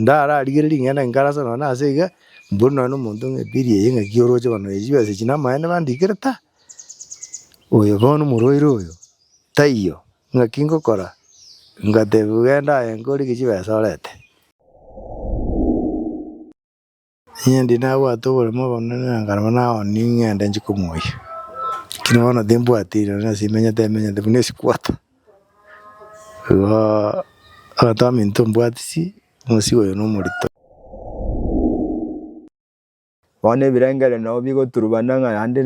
Ndararigere ring'ana inkarase nonya nase iga, mbori nonya na omonto ng'a eberi eye ng'aki oroche koba nonya chibesa echi namaene bandikire? Ta! Oyo bono omorwaire oyo, taiyo. Ng'aki ngokora? Ngatebiwa, genda aye inka orege chibesa orete. Inche ndi nabwate oboremu obonene na nkaraba nao ning'ende nchi komoyia. Lakini bono timbwati nonye nase imenyete emenyete buna esikuota. Igo abanto baminto mbwatisi omosigo oyo nomorito. Bono ebirengereri nabo bigoturubana ng'a yande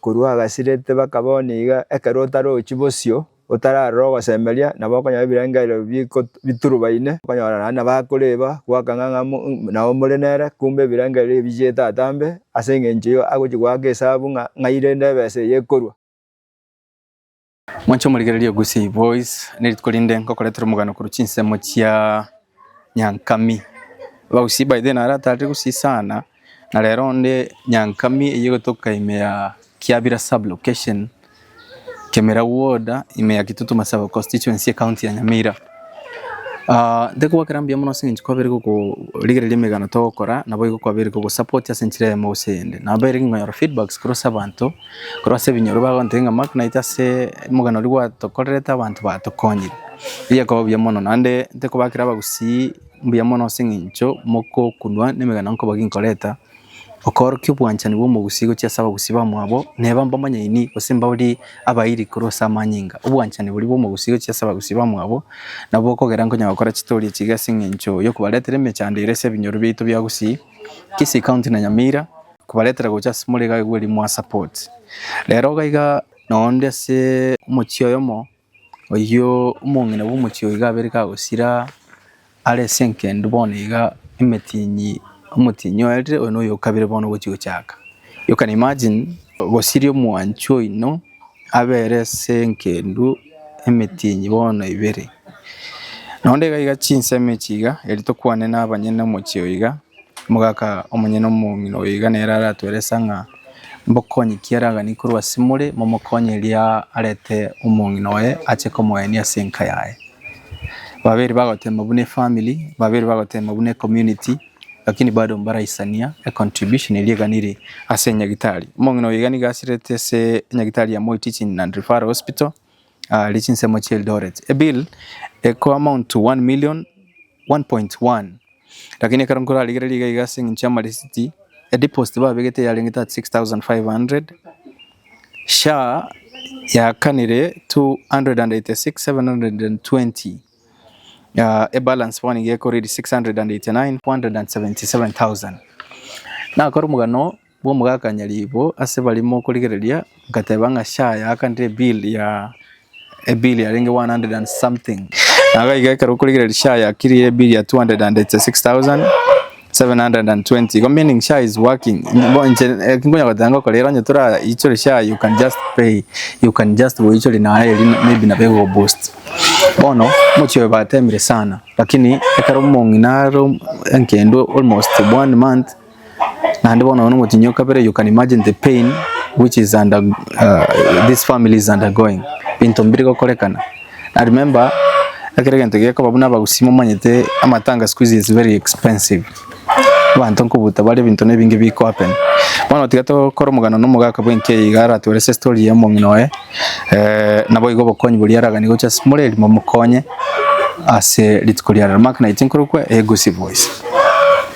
korwa agasirete bakaba bono iga ekero otarochi bosio. Otararora ogosemeria, nabo okonyora ebirengererio biturubaine, okonyora naende nabo akoreba gwakang'a ng'a nao more nere, kumbe ebirengererio ebio bichiete atambe, ase engencho eyio agochia goaka esabu ng'a ng'ai rende ebesa eye ekorwa. Mwanche omorigererie Gusii Boys ne rituko rinde ngokoretera omogano korwa chinsemo chia Nyankami. Bagusii by the way naro atarire Gusii sana. Na rero onde Nyankami eyio gotoka ime ya Kiabira sub location, Kemira ward, ime ya Kitutu Masaba constituency ecounty ya Nyamira. Ah, ntekobwakera mbuya mono aseng'encho kwabere gokorigereria emegano togokora, naboigo kwabere kogosupport ase enchera eyemo gose eyende. Nabere kingonyora feedbacks korwa ase abanto, korwa ase ebinyoro bagontebia ng'a Mark naitwe ase omogano oria gwatokorerete abanto batokonyire. Erio ekoba buya mono, naende ntekobakera abagusii. Mbuya mono ase eng'encho mogokunwa nemegena nkoboki nkoreta, okoorokia obwanchani bw'omogusii gochia ase abagusii bamwabo, neba mbamonyeni gose mbabori abairi korwa ase amanyinga. Obwanchani boria bw'omogusii gochia ase abagusii bamwabo, nabwo bokogera nkonya gokora chitoria echiga ase eng'encho y'okobaretera emechando ere ase ebinyoro biaito bia gusii, Kisii County na Nyamira, kobaretera gocha ase more iga aye bw'erimo aa support. Rero iga iga na onde ase omochie oyomo. Oyio omong'ina bw'omochie oo iga abeire kagosira are ase enkende bono iga emetinyi, omotinyi oerire oyo noyo okabire bono ogochia gochaka. You can imagine gosiria omwanchi oino abere ase enkendw emetinyi bono ebere. Noende iga iga chinsemo echi iga eri tokwane na abanyene omochie oo iga, omogaka omonyene omong'ina oyo iga nere aratueresa ng'a. Mbokonye kiaragani korwa ase more, momokonye erio arete omong'ina oye ache komoenia ase enka yaye. Babere bagoteema buna efamily, babere bagoteema buna ecommunity, lakini bado mbaraisania econtribution eria eganire ase enyagitari. Omong'ina oyo iga nigo asirete ase enyagitari ya Moi Teaching and Referral Hospital. aaria chinsemo chia Eldoret. Ebill eko amount to 1 million 1.1 lakini ekero nkorarigereria iga iga ase eng'encho y'amarisiti edeposit babegete yarengete at 6500 SHA yakanire 286720 ah, ebalance bono iga ekoriri 689477,000 nakora omogano bw'omogakania riibo ase baria mokorigereria, ngateba ng'a sure yaakanire ebill ya ebill yarenge one hundred and something. Naga iga ekero okorigereria sure yakirie ebill ya two hundred and eighty six thousand seven hundred and twenty igo meaning sure is working. Bo inche eki nkonya goteba ngokora ere onye toraichore sure you can just pay you can just goichori naye erio maybe nabo egokoboost. Bono omochie oyo batemire sana lakini ekero omong'ina are enkende almost one month. Naende bono oyo nomotinyi o kabere, you can imagine the pain which is under, uh, this family is undergoing. Binto mbiri gokorekana. I remember, ekero egento gekoba buna abagusii momanyete amatanga siku hizi is very expensive. Abanto nkobuta bare ebinto na ebinge biko happen. Bono tiga tokore omogano na omogaka bwenki eye iga aratwore ase story ya omong'ina oye, eh, naboigo obokonyi boria araganie gocha ase more erimo mokonye ase rituko ria rero. Mark 19 korokwo Egusi Voice.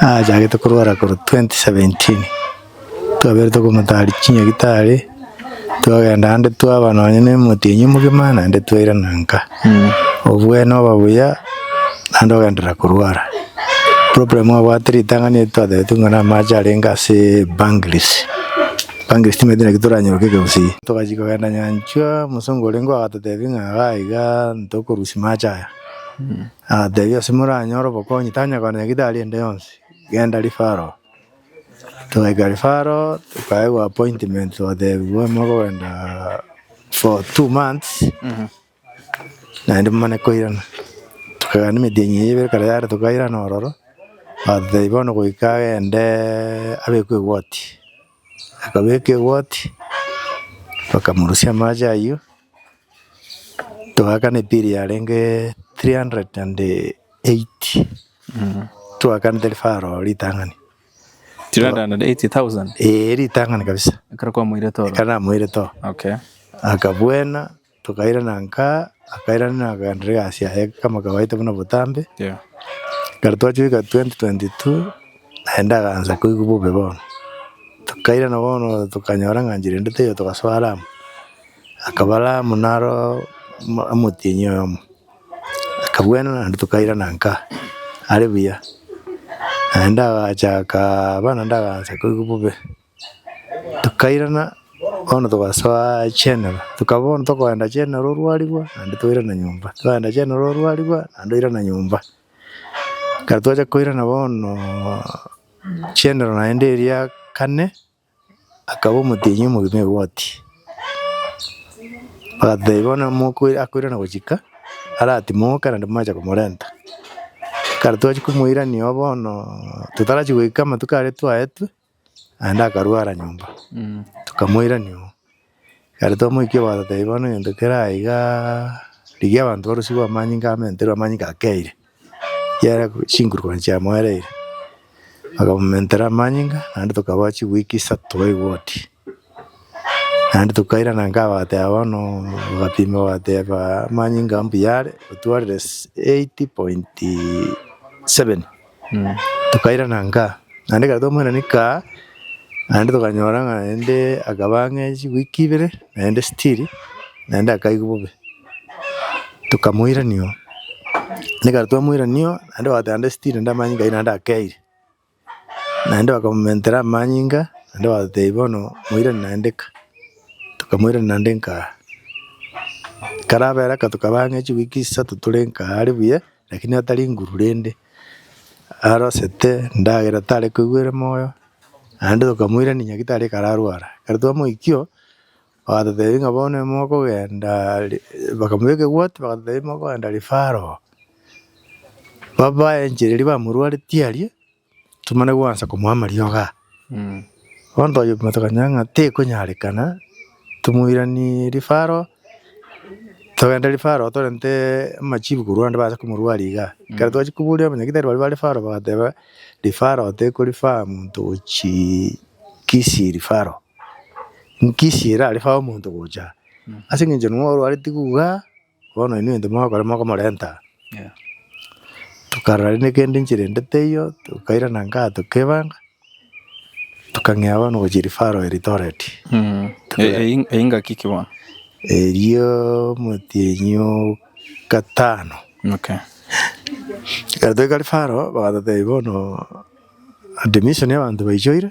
Nachagete korwara korwa twenty seventeen, twabere tokomotaria chinyagitari, twagenda ande twaba nonya na omotienyi omogima naende twairana nka. Obwene oba buya naende ogenderera korwara. Problem obwate ritang'ani eri twataete ng'a na amache arenge ase banglist, banglist timanyete naki toranyeroka ekegusii. Togachia kogenda nyanchwa, mosongo orenge ogototebi ng'a igaa igaa ntokorusia mache aya. Agatebia, Ase moranyore obokonyi, tanya koananya gitari ende yonsi, genda Rifaro. Togaika Rifaro, tokaegwa appointment, twatebiwa ime okogenda for two months, naende momane koirana. Tokagenda emeti eye ibere ekero yare tokairana ororo, bagatotebia bono goika agende abekwe egoti. Akabeka egoti, bakamorusia amache ayio, toakana ebill yarenge three hundred and eighty, toakana tari faro oo ritang'ani, 380,000 eeh ritang'ani kabisa, ekero kwamoirete oro? ekero namoirete oo, Okay. akabuena. Tokairana nka, akairana nakagenderera egasi yaye kama kawaida buna botambe. Ekero twachoreka 2022, naende akaansa koigwa bobe bono. Tokairana bono tokanyora ng'a nchera ende teiyo togasoa Lamu. Akaba Lamu naro mo- omotienyi oyomo. Akabwena naende tokairana nka, are buya. Naende agacha akaba naende akaansa koigwa bobe. tokairana bono togasoa chenero, tokaba bono tokoenda chenero orwarigwa naende toirana nyomba, toenda chenero orwarigwa naende toirana nyomba. Ekero twachia koirana bonoooo chenero naende eria kane, akaba omotienyi omogima egoti, bagateba bono mokoi akoirana gochika aratimoke naende mwacha komorenta. Ekero twachia komoirania oo bonoooo totarachi goika amatuko aria twaetwe. Naende akarwara nyomba, tokamoirania oo. Ekero twamoikia bagatotebia bono egento kere aye igaaaa, rigia abanto barosiwu amanyinga amo enterwe amanyinga akeire, kiagera chinguru konya chiamoereire. Bakamomentera amanyinga naende tokaboa chiweek isato babe wodi. Naende tokairana inga bagateba bono bagapima bagateba amanyinga mbuya are, otwarire s- eight point seven. Tokairana nka, naende ekero twamoiranetie nka, naende tokanyora ng'a naende akaba ang'e chiweek ibere naende still naende akaigwa bobe. Tokamoirania oo, naende ekero twamoirania oo, naende ogoteeba naende still naende amanyinga aywo naende akeire. Naende bakamomentera amanyinga naende batebi bono moirane naende ka, tokamoirania naende nkaa. Karabera ka tokaba ang'e chiweek isato tore nkaa are buya. Lakini atari nguru rende, arosete ndagera tare koigwera moyo, naende tokamoirania naki tare kararwara. Ekero twamoikio, bagatotebia ng'a bono ime mokogenda re bakamoa ekegwoti bagatotebia ime okogenda rifaro, babae enchera eria bamorwaretie aria. Tomana gwansa komoa amariogo aa. Bono twayepima tokamanya ng'a tekonyarekana, tomoiranerie rifaro, togende rifaro torenteee amachibu korwa ande baase komorwaria igaa. Ekero twachia koboria abanyagitari baria ba rifaro bagateba, rifaro tekorifaa monto gochiiii Kisii rifaro. Kisii erarifae omonto gocha aa. Ase eng'encho ning'o orwareti igaa. Bono inwe intwe mogokora mogomorenta aa. Tokarora rende kende enchera ende teiyo, tokairana inkaa tokebanga, tokang'ea bono gochia rifaro Eldoret. Eyio ngaki ki bono? Erio omotienyi o gatano. Okay. Ekero toika rifaro, bagatotebia bono admission y'abanto baichoire.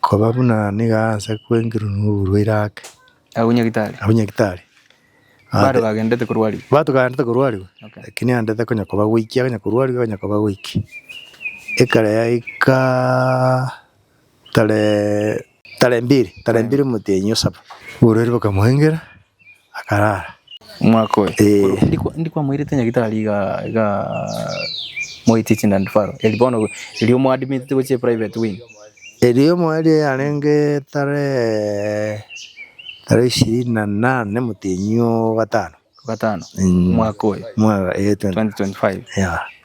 Koba buna nigo aase kwengerwa noborwaire ake. Agwo Nyagitari. Agwo Nyagitari. Bado bagendete korwarigwa. Bato kaendete korwarigwa. Okay. Lakini andete konya koba goiki agenya korwarigwa agenya koba goiki. Ekare yaika tare tare mbiri tare mbiri motenyi osaba. Oborwaire bokamoengera. akarara. Omwaka oye. Ee. Ndikwa ndikwa moirete nya gitari iga iga moiti chinda ndifaro. Eli bono eli omo admit to which private wing. Eli omo eli yarenge tare tare ishirini na nane motenyi ogatano. Ogatano. Mwaka oye. Mwaka ee 2025. Yeah.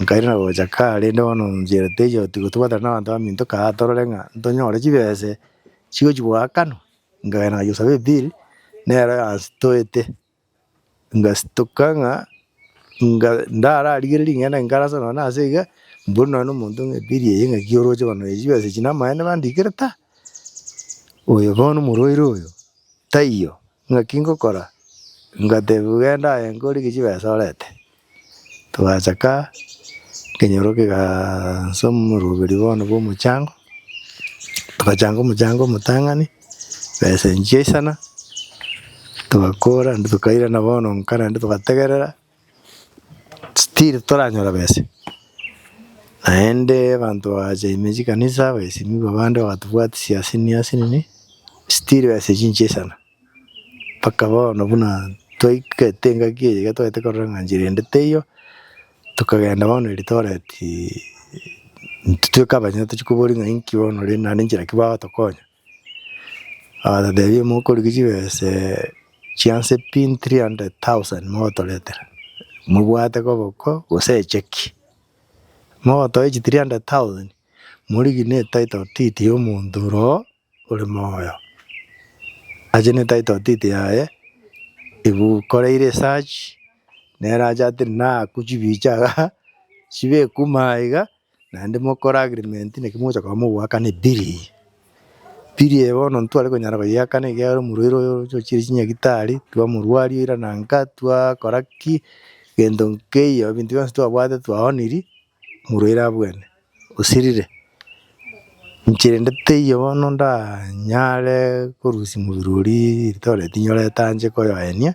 Nkairana gocha kare, rende bono nchire teiyo tiga tobwatana nabanto baminto kaa torore ng'a ntonyore chibese chigochi goakanwa, nkagenda ngachia kosaba ebill nero yanstoete, ngastoka ng'a nga ndararigere ring'ana eri nkarase nonye nase iga, mbori nonye na omonto ng'a ebill eye ng'aki oroche koba nonya chibesa echi namaene bandikire ta, oyo bono omorwaire oyo taiyo. Ng'aki ngokora? Ngatebiwa, Genda aye nkorige chibesa orete. Twachaka nkenyora okegansa omoroberi bono bw'omochango, togachanga omochango omotang'ani, besa enchia isana, togakora naende tokairana bono nka naende togategerera. Still toranyora besa naende abanto bagacha ime chikanisa bagaesenikwa abande bagatobwatisia ase nia ase nini still besa echi inche isana mpaka bono buna twaigete engaki eye iga twagete korora ng'a nchera ende teiyo tokagenda bono Eldoret intwe tweka abanyene tochia kobori ng'a inki bono rende naende nchera ki bagotokonya. Agatotebia, Mokoriki chibese chi'anse pi 300,000 mogotoretera, mobwate koboko gose echeki? Mogotoe chi 300,000 morigie ne title deed y'omonto ore oo ore moyo, ache ne title deed yaye, egokoreire esearch, nere ache atebie naku chibicha igaa, chibekwa ime aiga. Naende mokore agreement naki mogocha korwa mogoakana ebiri eye. Biri eye bono ntware konyara koyeakana ekiagera omorwaire oyo oroche ochiire chinyagitari, twamorwaria oira nanga, twakora ki, gento nkeiyo, ebinto bionsi twabwate twaoniri, omorwaire abwene, osirire. Inche rende teiyo bono ndanyare korusia mobere oria eritogi riaye tinyorete anche koyoenia.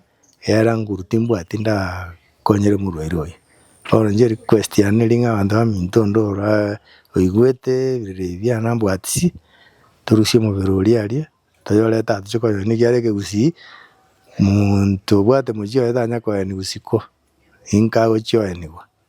Era nguru timbwati ndakonyere omorwaire oye. Bono inche request yane ring'o abanto baminto onde ora oigwete ebirira ebi biane ambwatisi torusie omobere oria aria toyorete aa tochie koyoyora naki are ekegusii monto obwate mochie oye tanya koyeniwa isiko ninka agochia oyenigwa.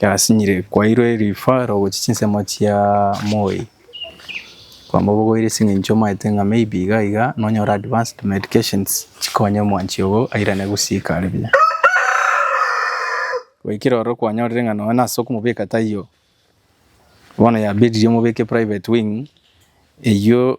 Yasinyire kwairwe referral gochia chinsemo chia moi, kwamba obogoire ase eng'encho omanyete ng'a may be iga iga nonyore advanced medications chikonye omwanchi ogo airane gosiika are buya. Goikera ororo kwanyorire ng'a nonye nase okomobeka taiyo, bono yabedirie omobeke private wing, eywo.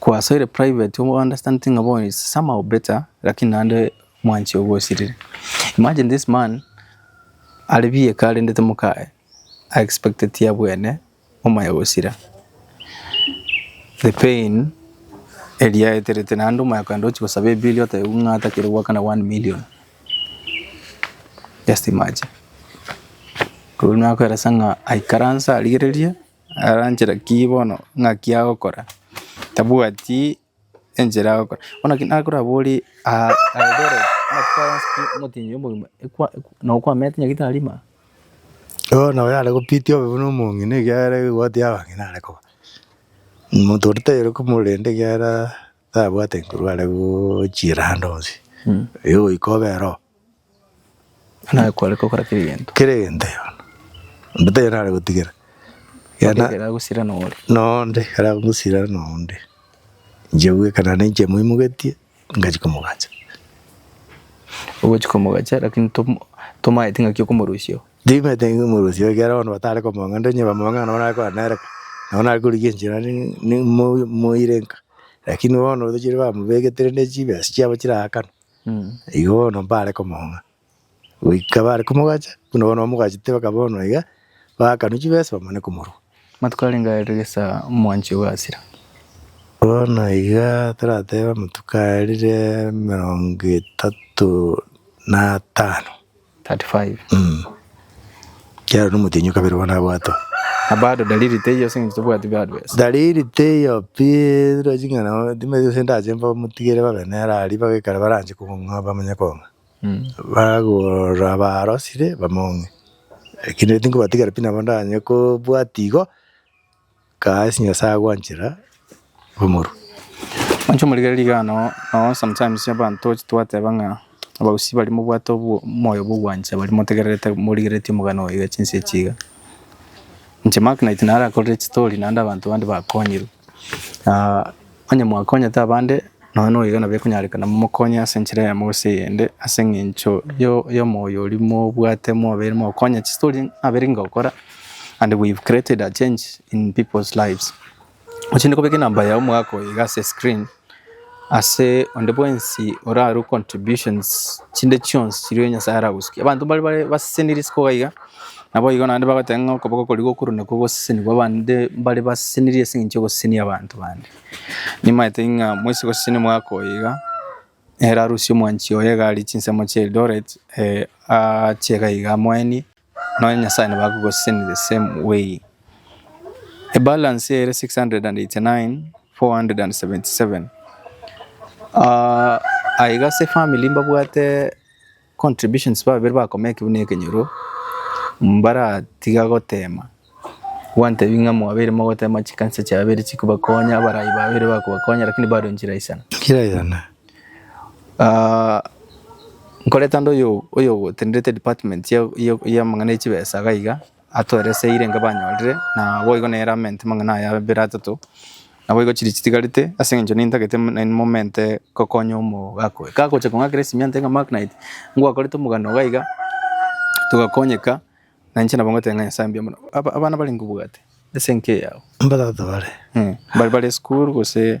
Kwasoire private u understand ng'a bono is somehow better lakini naende mwanche ogosirire. Imagine this man are bieka arendete mokaye a expected tiya bwene omoyo gosira. The pain eria aeterete naende omoyo akogenda ochi gosaba ebill otebwa ng'a atakire goakana one million. Just imagine. Korwa nakoeresa ng'a aikaranse arigererie. aranchera ki bono ng'aki agokora, tabwati enchera agokora. Bono ekero nakorabore aa Eldoret amatuko aya ase omotenyi omogima ekwa nokwamete nyagete tarima. Bono oyo are gopitia obe buna omong'ina ekiagera egegwati yaba ng'ina are koba. Omonto oria taiyo ore komorenda ekiagera. Tabwate nkorwa are gochiera ande onsi, oyo goika obere oo. Buna akware gokora kera egento. Kera egento yono. Onde tari nare gotigera. Ekero Ekero agosira nore. Noonde ekero agosira noonde. Inche bweka naende inche moimogetie ngachia komogacha. Ogochia komogacha lakini tomo tomaeti ng'aki okomorusia oo. Ndimete ng'a omoroisia oyo kera bono batare komong'anda, onye bamong'ana nabo nare korana nere ko, nabo nare korigia enchera ni- ni- mo- moire nka. Lakini bono otochire bamobegete rende chibesa chiabo chiraakana, igo bono mbare komong'a. Goika bare komogacha, buna bono bamogachete mpaka bono iga, baakanwa chibesa bamane komorua. Amatuko arenge aya rire gesaa omwanchi ogasira. Bono iga toratebe amatuko aya rire emerongo etato na atano. 35. Kiaro nomotenyo kabere bono abwatwa. Na bado dalili teiyo ase eng'encho tobwati bado besa. Dalili teiyo pi roche ng'a nabo timbe gose ndache mbamotigere babe nere aria ibaga ekero baranche kong'a bamenye kong'a. Bagora barosire bamong'e. Lakini tinkobatigera pi nabo ndanye kobwati igo. Kaas Nyasae agwanchera omorua. Inche omorigereria igano noo sometimes abanto twateba ng'a abagusii baria mobwate omoyo bwogwancha baria motegererete morigereretie omogano oye echinsa echi iga. Inche Mark night narakorire chistory naende abanto bande bakonyirwe. Onye mwakonyete abande, nonya noyiga nabo ekonyarekana momokonye ase enchera eyemo gose eyende, ase engencho y'omoyo oria mobwate mwabeire mogokonya chistori naberenge gokora and we've created a change in people's lives. Ochende kobeka enamba yago omogaka oyo iga ase escreen ase onde bwensi orarue contributions chinde chionsi chiria Nyasaye aragosukia. Abanto mbare baseseniri isiko iga. Naboigo naende bagoteba ng'a okoboko koria gokoro nakwo gosesenigwe abande mbare basesenirie ase eng'encho yogosesenia abanto bande. Nimanyete ng'a moise goseseniwa omwaka oyo iga, ere arusia omwanchi oye iga aria chinsemo chia Eldoret achie iga iga amoenie, nonya Nyasaye nabo akogosesenera the same way. Ebalance ere six hundred and eighty nine, four hundred and seventy seven. Aye iga ase efamiri mbabwate Contributions babere bakoma ekibu ne ekenyoro mbaratiga gotema gwantebi ng'a mwabeire mogotema chikanisa chiabeire chikobakonya abarai babere bakobakonya lakini bado enchera isana. Kera isana. Ah, nkoreta ande oyo oyogotenderete department ya ya ya amang'ana ya chibesa iga iga. Atware ase eyio renge banyorire, na boigo nere amente amang'ana aya abere atato, naboigo chiria chitigarete, ase eng'encho nintagete nainwe momente gokonya omogaka oyo. Gagocha kong'akera esimiante ng'a Mark Knight, ngwakorete omogano iga iga, togakonyeka, na inche nabo ngotebi ng'a Nyasae mbuya mono. Aba- abana bare nkobwate ase enka eyao. Mbatata bare. Mbare bare esukuru gose.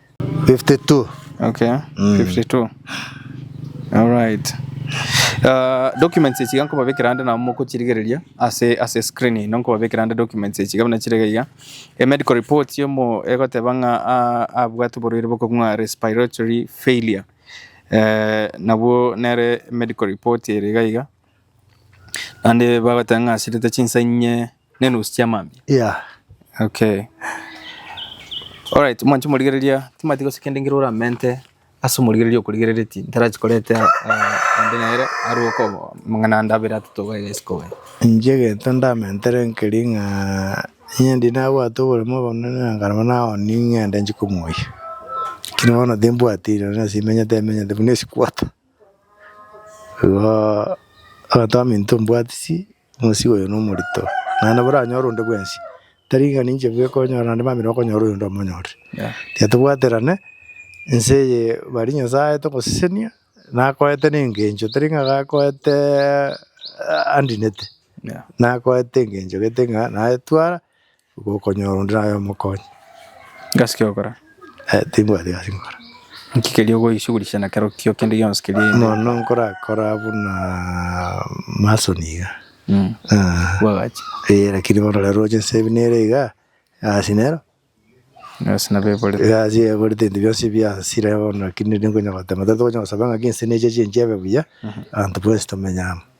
52. Okay, 52. Alright. Ah, documents echi iga nkobabekera ande nabo mokochirigereria ase ase screen ino nkobabekera ande documents echi iga buna chire iga iga. E medical report yomo egoteba ng'a ah, abwate oborwaire bokong'wa respiratory failure. Eh, nabwo nere medical report ere iga iga. Naende bagoteba ng'a asirete chinsa inye nenusu chia mambia Yeah. okay alright mwanche morigereria timati gose kende ngire oramente ase omorigereria okorigerereti ntarachi korete eh, ande nere aruoke obo- amang'ana ande abere atato iga iga isiko iga. Inche egento ndamentere nkeri ng'a onye ndi nabwate oboremo obonene na nkarema naoni ng'ende nchi komoyia. Lakini bono timbwati rirorio nonye ase imenyete emenyete buna esi quarter. Igo abanto baminto mbwatisi. Omosie oyo nomorito, naende boranyore onde bwensi, tari ng'a ninche bwe konyora naende mamire okonyora oyonde omonyorire. Tiga tobwaterane, ense eye bari Nyasae togosesenia, nakoete na engencho tari ng'a gakoete andinete, nakoete engencho gete ng'a naye twara. Gokonyora onde naye omokonye. Gasi ki ogokora? Eh, timbwati gasi nkora. Nki keria ogoishugurisha na kero kio kende gionsi keria inde? Mono nkorakora buna mason iga. Mm. Ah, Bwagachi. eh, lakini bono rero roche nse ebi nere iga, gasi nero, Gasi nabo eborete. gasi eborete ebinto bionsi biansire bono, lakini riri nkonya gotema. Tari tokonyara gosaba ng'aki ense necheche enchebe buya, abanto bwensi tomenye amo.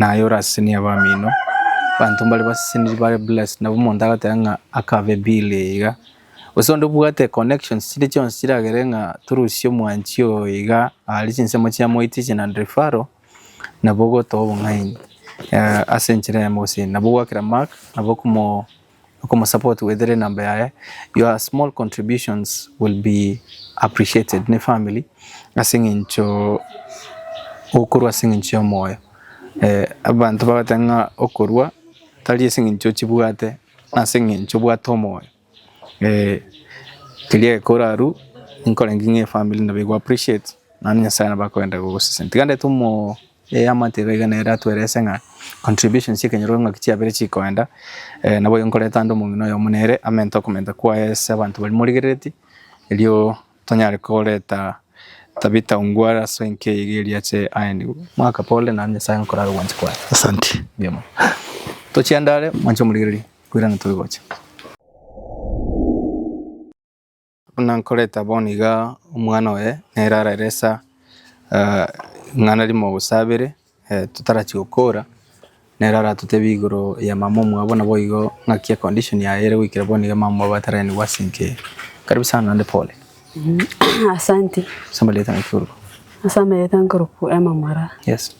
Naye orasesenie abamino, abanto mbare baseseniri bare blessed, nabo omonto agoteba ng'a akabe bill eye iga, gose onde obwate connections chire chionsi chiragere ng'a torusie omwanchi oyo iga aria chinsemo chiamoitiche na referral, nabo ogotoa obong'aini ase enchera eyemo gose eyindi, nabo ogwakera mark nabo okomo. okomosupport with ere number yaye, your small contributions will be appreciated ne family ase eng'encho okorwa ase eng'encho y'omoyo. Abanto bagoteba ng'a okorwa tari ase eng'encho ochibwate nase eng'encho obwate omoyo. Keria egeka orarue nkorenge ng'a efamiri nabo ego appreciate naende Nyasaye nabo akorenda gogoseseni. Tiga ndete omo. Ee, amatiga iga nere atwerese ng'a contributions chi'ekenyoro eng'aki chiabere chikoenda, eh, naboigo nkoreta ande omong'ina oyomo nere amente okomenta kwaye ase abanto baria morigerereti, erio tonyare koreta Tabitha Ongwara ase enka eye iga erio ache aenigwe. Mwaka pole, naende Nyasaye aye ngokora aro obwancha kwaye. Asante. Mbuya mono. Tochie ande are, mwanche omorigereria, koirana tore gocha. Buna nkoreta bono iga omwana oye nere araresa eh, ing'ana rimo gose abere eh, totarachia gokora nere aratotebia igoro ya mama omwabo nabo igo ng'aki ya condition yaye ere goikera bono iga mama omwabo ataraenigwa ase inche karibu sana naende pole Asante. ase amareta nakiorwa Asa amerete nkorokwa emamora. yes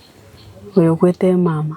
Oyo okwete emama.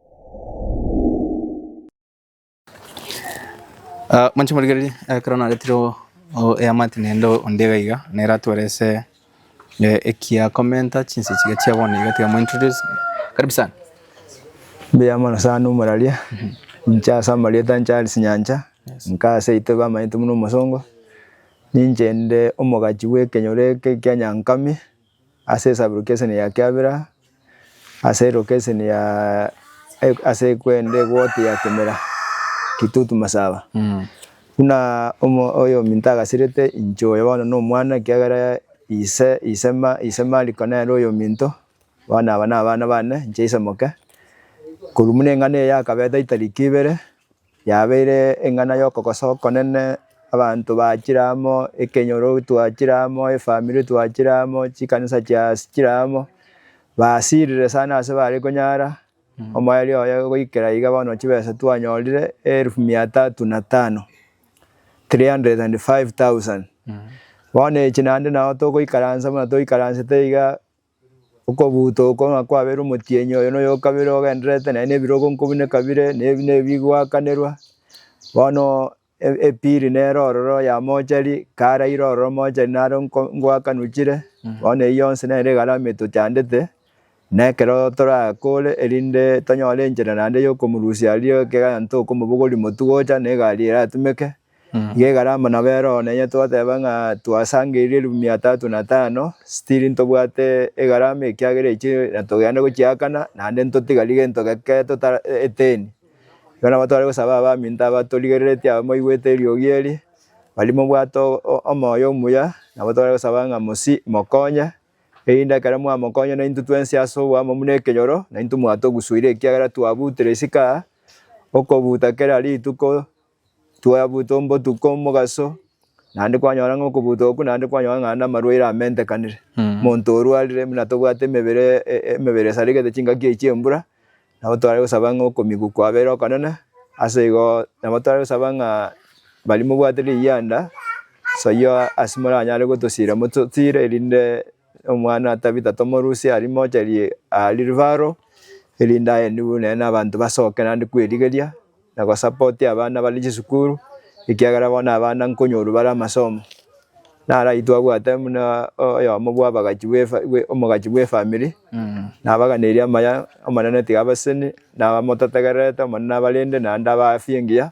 Ah, mwanche morigererie ekero naretire o- o- eamate nende onde iga iga nere atwore ase eh, ekia komenta chinse chiga chia bono iga tiga mointroduce karibu sana Mbuya mono sana omuraria, inche ase amarieta inche Alice Nyancha, nka ase aitwe bamanyete buna omosongo, ninche inde omogachi bw'ekenyoro eke kia Nyankame. ase esaburuki eseni ya kiabera, ase eroka eseni ya ase ekwenda egoti ya kemera, kitutu masaba. Buna omo oyominto agasirete inche oyo bono na omwana ekiagera ise ise ma ise mariko nere oyominto, bono aba na abana bane, inche ise moke. Korwa buna eng'ana eye yakabete itariki ibere. Yabeire eng'ana y'okogosa okonene, abanto bachire amo, ekenyoro twachire amo, efamiri twachire amo, chikanisa chiachire amo. Basiirire sana ase bare konyara omoerio oye goikera iga bono chibesa twanyorire eelifu mia tatu na tano, 305,000. Bono echi naende nao togoikaransa buna toikaransete iga. Okobuuta oko ng'a kwabeire omotienyi oyo noyo okabere ogendererete naye nebirogo nkobuna ekabire nebigwakanerwa bono epili nere ororo ya mochari karaire ororo mochari naro ngwakanwa chire bono eyio yonsi nere egarama etochandete na ekero torakore erinde tonyore enchera naende yokomorusia aria ekeganto okomobogoria motu gocha na egari eratumeke. Iga egare amo nabo erooro nenye twateba ng'a twasangeirie elfu mia tatu na tano still ntobwate egarama ekiagera echio natogenda gochiakana naende ntotigari gento geke tota eteni. Igo nabo tware gosaba abaminto aba torigereretie aba mbaigwete eriogi eri bari mobwate omoyo omuya nabo tware gosaba ng'a mosie mokonye erinde ekero mwamokonya naintwe twensi ase oboamo buna ekenyoro naintwe mwatogusuire ekiagera twabutire isiko aa okobuta kera rituko. Twabutwa obotuko omogaso, naende kwanyora ng'a okobutwa okwo naende kwanyora ng'a naende amarwaire amentekanire. Omonto orwarire buna tobwate emebere e- e- emebere esarigete chingaki echi chiembura, nabo tware gosaba ng'a okomigwa kwabere okonene, ase igo nabo tware gosaba ng'a baria mobwate riyanda, soyio ase moranyare gotosira mototire erinde omwana tabita tomorusia aria mocherie aa Rirubaaro, erinde aye nigo nere na abanto basoke naende kwerigeria. na gosapoti abana bare chisukuru, ekiagera bono abana nkonyorwa bare amasomo, naraitwe abwate buna oyomo bw'abagachi bw'efa bwe omogachi bw'efamiri, nabaganeirie amaya, Omonene tiga abaseseni, naba motategererete, Omonene abarende naende abaafi engiya,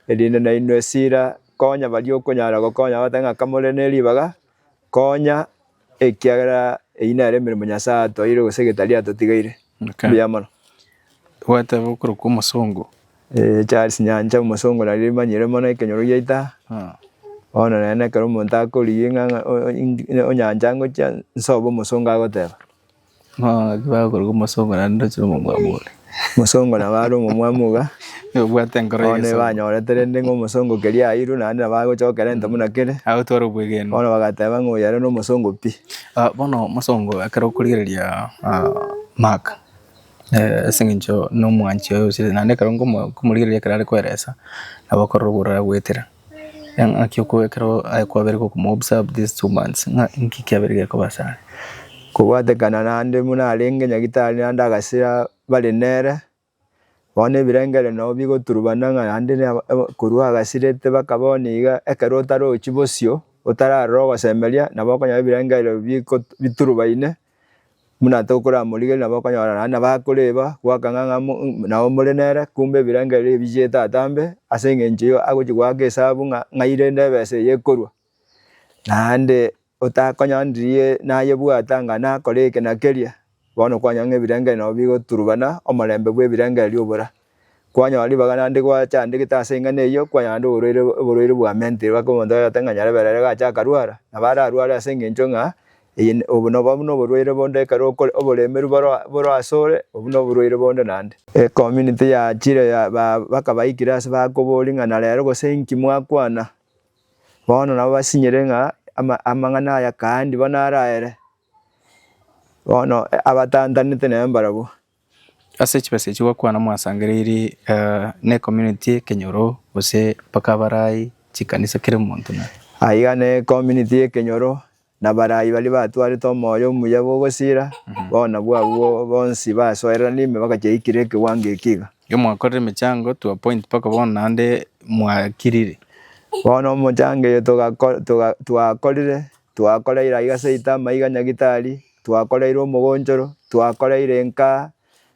erinde nainwe esira, konya baria okonyara gokonya bagotebi ng'a kamore neribaga, Konya ekiagera eyio nere emeremo Nyasae atoeire gose egetari atotigeire. Okay. Mbuya mono. Gwateba okoro kwa omosongo. Eh, Charles Nyancha omosongo nari rimanyire mono ekenyoro giaita. Ah. Bono nere nekero omonto akorigia ng'a onyancha ngochia nsobe omosongo agoteba. Bakoruga omosongo naende ndoche nomomwamu ore. Omosongo nabo are omomwamu iga. Obwate enkoro ya egesongo. Bono ebanyorete rende ng'a omosongo keria airwe naende nabo agochokera egento buna kere. Agotwara obwegenwa. Bono bagateba ng'a oyo ere nomosongo pi. Bono omosongo ekero okorigereria Mark ase eng'encho nomwanchi oye osirie naende ekero nkomorigereria ekero are koeresa nabo okorora obororo agoetera. Engaki oko ekero aye kwabeire gokoma observe these two months ng'a inki kiabeire gekoba ase are. Kobwatekana naende buna arenge nyagitari naende agasira bare nere, bono ebirengeri nabo bigoturubana ng'a naende korwa agasirete baka bono iga ekero otarochi bosio otararora ogosemeria nabo okonyora ebirenge ebio biko biturubaine. Buna tokoramorigereria nabo okonyora naende nabo akoreba goaka ng'a ng'a mo mm nabo more nere kumbe ebirengo ebi ebichete atambe ase eng'encho eyio agochi goaka esabu ng'a ng'ai rende ebesa eye ekorwa. Naende otakonyora ndirie nayebwate anga nakore eke na keria, bono kwanyora ng'a ebirengo ebi nabo bigoturubana omorembe bw'ebirengo ebi obora. Kwanyora ribaga naende gwachandegete ase eng'ana eyio, kwanyora naende oborwaire oborwaire bwa mentiri, gaki omonto oyote ng'a nyarebera ere gacha akarwara, nabo ararware ase engencho ng'a eye n- obo nobo buna oborwaire bonde ekero okore oboremeru boro boro ase ore, obwo na oborwaire bonde naende. Ecommunity yachire ya ba bakabaikire ase bakoboria ng'a na rero gose inki mwakwana? Bono nabo basinyire ng'a ama amang'ana aya kaandi bono araere, bono abatantanete nere mbarabwo. Ase chibesa echi gwakwana mwasangereiri ne community ekenyoro gose mpaka abarai chikanisa kera omonto na. Aiga ne community ekenyoro na abarai baria batwarete omoyo omuya bw'ogosira bono bw'abwo bonsi basoereranie ime bagacha ikire ekewango eki iga. Iga mwakorire emechango to a point mpaka bono naende mwakirire. Bono omochango oyo twakorire Twakoreire aiga seita, amaiga nyagitari, twakoreire omogonchoro, twakoreire enkaa,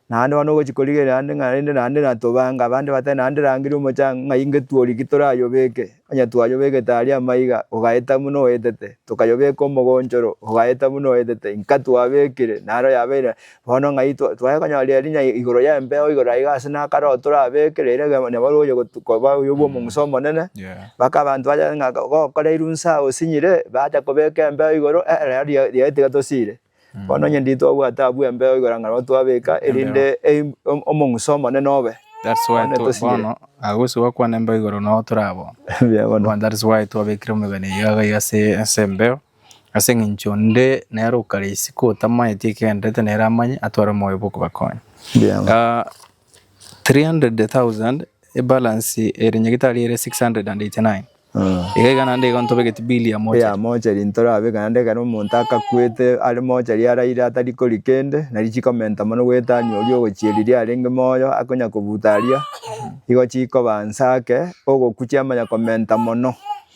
naende bono ogochi korigereria naende ng'a rende naende natobanga abande batari naende rangeri omochanga ng'a inge tworiki torayobeke, onye twayobegete aria amaiga, ogaeta buna oetete, tokayobeka omogonchoro, ogaeta buna oetete, inka twabekire, naro yabeire Bono ng'ai twaye konyorera erinya igoro y'embeo igoro aiga ase nakare oo torabeeke riria egento nabo oye gotu koba oyo bwa omong'uso omonene, mpaka abanto bache ng'a gokora erunsa osinyire, bacha kobeeka embeo igoro eh ere aria riaye tiga tosiire. Bono onye ndiri twabwate abwo embeo igoro ang'e nabo twabeeka erinde eim om- omong'uso omonene obe. That's why Bono to- tosinyire. bono agosuka gokwana embeo igoro nabo torabwo. Mbuya bono. Bono that is why twabekire omegani eyio iga iga ase ase embeo, Ase engencho onde nere okare isiko otamaeti ekegenderete nere amanye atware omoyo bw'okobakonya. Mbiama. Ah, 300,000 ebalance ere nyagetari ere 689 Mm. iga iga naende igo ntobegeti bill ya mochari ya mochari ntorabeka naende ekero omonto akakwete are mochari araire atari kori kende nari chikomenta mono gwetania oria ogochia riria arenge moyo akonya kobuta aria igo chikoba nsa ake ogokwa chiamanya komenta mono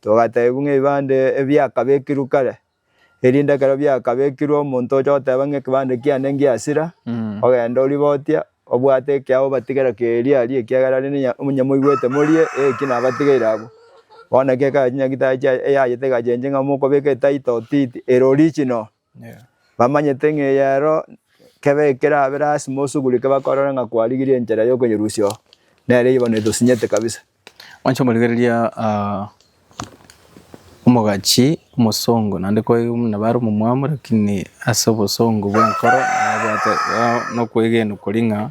Togateebigwa ng'a ebibande ebi biakabekirwe kare, erinde ekero biakabekirwe omonto oche goteba ng'a ekebande kiane ngiasira, ogende oribotie, obwate ekiagera obatigere keeria aria ekiagera rende nonya onye moigwete morie eki nabatigeire abwo. Bono eke ekachinyagete aye eyaye tekachenche ng'a mokobeka etaito titi ere original. Bamanyete ng'a eyero kebe ekeraabe lasima osugure eke bakorora ng'a kwarigirie enchera y'okonyerusia oo, nere igo netosinyete kabisa. Mwancha komorigereria ah, omogachi omosongo naende kwaigwa buna bare omomwamu lakini ase obosongo bw'enkoro nabwate ah, nokwegena koria ng'a.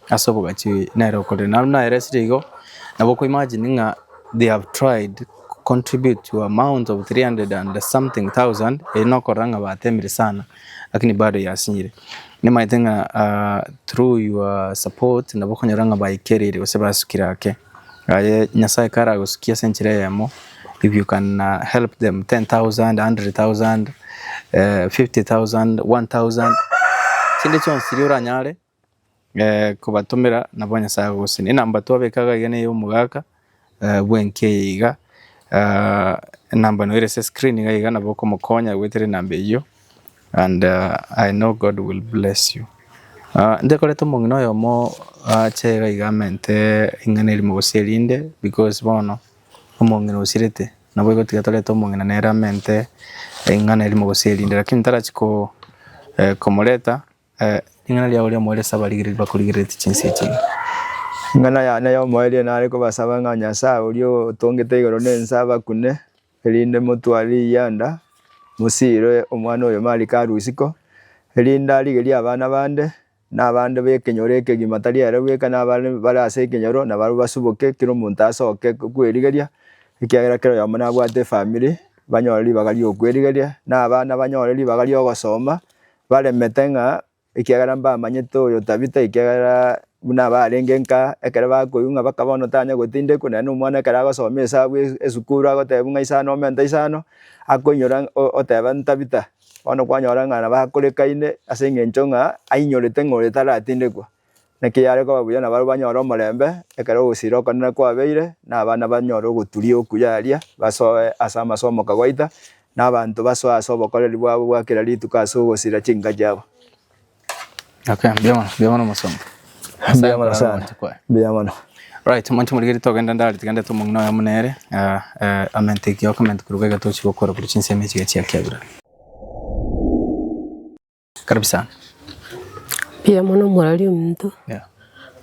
Ase obogachi nere okorire naro nere esire igo nabo oko imagine ng'a they have tried to contribute to amount of 300 and something thousand eri nokorora ng'a batemire sana lakini bado yasinyire. Nimaete ng'a ah, through your support nabo okonyora ng'a baikerire gose basukire ake. Aye Nyasaye kare agosukie ase enchera eyemo if you can ah, help them 10,000, 100,000, eh, 50,000, 1,000 chinde chionsi chiria oranyare. kobatomera nabo Nyasae agosina. Enamba twabeka iga iga neye omogaka bwenki eye iga enamba noyo ere ase screen iga iga nabo okomokonya goetera enamba eyio and I know God will bless you. Ntekorete omong'ina oyomo ache iga iga amente ing'ana erimo gose erinde because bono omong'ina osirete naboigo tiga torete omong'ina nere amente ing'ana erimo gose erinde lakini ntarachi komoreta. Ring'ana ria oria omoerio ase abarigereria bakorigereretie chinse echi. Ing'ana yane y'omoerio nare kobasaba ng'a Nyasae oria otongete igoro na ense abakune, erinde motware riyianda mosiire omwana oyo Marika arue isiko, erinde arigerie abana bande, na abande b'ekenyoro ekegima tari ere bweka, na abare bare ase ekenyoro na barabwo basuboke, kera omonto asoke kwerigeria, ekiagera kera oyomo nabwate efamiri banyore ribaga ri'okwerigeria, na abana banyore ribaga ri'ogosoma, Baremete ng'a ekiagera mbamanyete oyo Tabita, ekiagera buna abarenge nka ekero bakoigwa ng'a baka bono tanya gotindekwa, naende omwana ekero agosoma esabu esukuru agotebiwa ng'a isano omenta isano, akoinyora oteba Tabita, bono kwanyora ng'a nabo akorekaine ase eng'encho ng'a ainyorete ng'a oyo taratindekwa. Naki yare koba buya nabarabwo banyore omorembe, ekero ogosira okonene kwabeire, na abana banyore ogoturia okuya aria, basoe ase amasu omoka gwaita, na abanto basoe ase obokoreri bwabo bwa kera rituko ase ogosira chinka chiabo. Okay, mbuya mono, mbuya mono omosomba. Nyasae Mbuya mono akorore sana. omonto kwaye. Mbuya mono. Right, omonto omorigeri togenda ndare tigende ete omong'ina oyomo nere eh, eh, amente ekiyo comment koruga iga tochi gokora korwa chinsemo echi iga chiakiagurana. Karibu sana. Mbuya mono mwarari ominto. Yeah.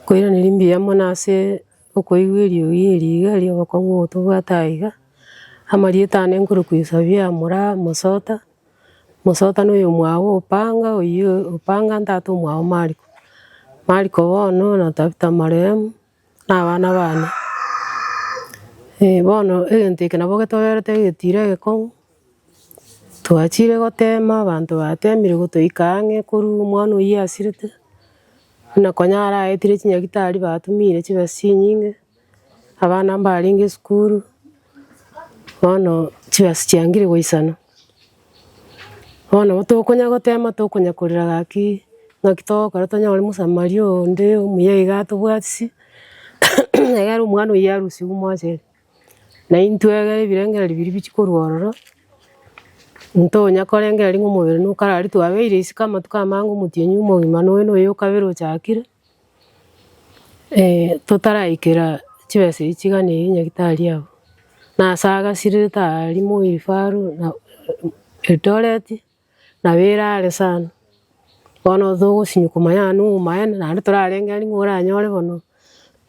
Koiraneria mbuya mono ase okoigwa eriogi eri iga ri'obokong'u ogotobwate aa iga. Amarieta aane nkore koisabia mora Mosota. Mosota noyo omwao o Opanga oyio Opanga ntato omwao Mariko. Mariko bono na Tabitha marehemu. na abana bane. Ee bono egento eke nabo getoberete egetiire egekong'u, twachire gotema abanto batemire gotoika ang'e korwa omwana oyio asirete, buna konya araetire chinyagitari batumire chibesa chinyinge, abana mbarenge esukuru, bono chibesa chiangire goisanwa. Bono nabo tokonya gotema tokonya korera gaki ng'aki togokora tonyore omosamari onde omuya iga atobwatisi, egere omwana oyio arusigwe mochenu. Na intwe egere ebirengereri biria bichia korwa ororo, ntonya korengera ring'o omobere nokararire twabeire isiko amatuko amange omotienyi omogima noyo noyo okabere ochakire. totaraikera chibesa echi chigana eyi nyagetari abu, nasa agasirire tari moifaru na Eldoret, nabo erare sana. Bono togosinywa komanya ng'a noyo omaene, naende torarenge aria ng'a oranyore bono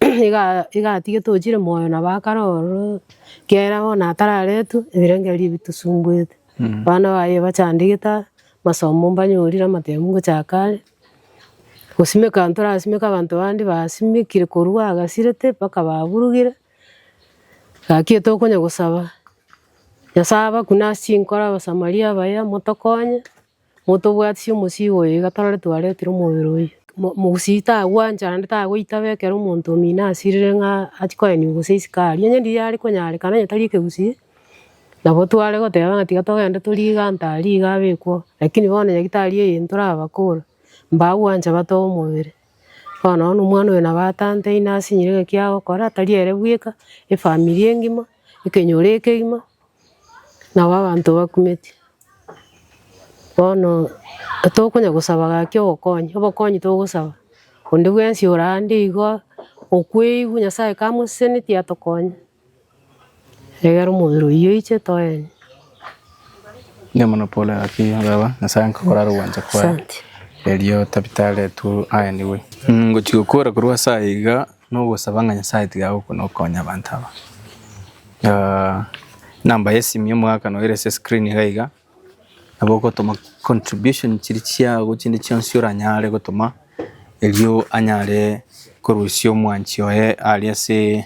iga igatige tochire moyo na bakare ororo, ekiagera bono atararetwe ebirengererio ebi bitosumbwete. Abana baye bachandegete aa, masomo mbanyorire amatemo ngochaka are. Gosimeka ntorasimeke abanto bande basimekire korwa agasirete mpaka baburugire, gaki tokonya gosaba, Nyasae abe buna ase chinkoro abasamari abaya motokonye, motobwatisie omosii oyo iga torore twaretire omobere oyio. Mosii tagwancha naende tagoitaba ekero omonto omino asirire ng'a achie koenigwa gose isiko aria, onye riria riare konyarekana onye tari ekegusii. Nabo tware goteba ng'a tiga togende torie iga ntari iga abekwo, lakini bono nyagetari eye ntorabakora, mbagwancha bate omobere. Bono nonye omwana oyo nabo atanteine asinyire ng'a ekia agokora tari ere bweka, efamiri engima, ekenyoro ekegima, nabo abanto bakumeti. Bono tokonya gosaba gaki obokonyi, obokonyi togosaba, onde bwensi ore ande iga okweigwa, Nyasaye kamoseseneti atokonye. Egera omobere oyio oiche toenye. Inee mono pole ng'aki baba nyasae agakora are ogwancha kwaye Asante. erio tabita aretwe aenigwe ngochi gokora korwa ase aya iga nogosaba ng'a nyasae tiga agokona okonya abanto aba Ah, enamba yesimi omogaka noyo ere ase screen iga iga nabo ogotoma contribution chiria chiago chinde chionsi oranyare gotoma erio anyare korusia omwanchi oye aria ase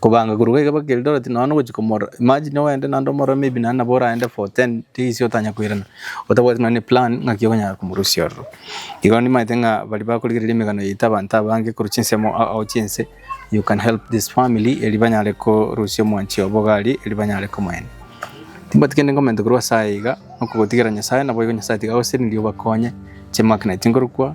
Kobanga korwa iga mpaka Eldoret nonya nogochia komorora. Imagine oende naende omorore maybe naende nabo oraende for 10 days otanya koirana. Otabwati nonya ne plan ng'aki okonyara komorusia ororo. Igo nimaete ng'a baria bakorigereria emegano yaito abanto abange korwa chinsemo ao ao chiense you can help this family erio banyare korusia omwanchi obo iga aria erio banyare komoenia. Timbwati kende ngomenta korwa ase aye iga, okogotigera Nyasaye naboigo Nyasaye tiga agosesenirie obakonye chimagnet nkorokwa.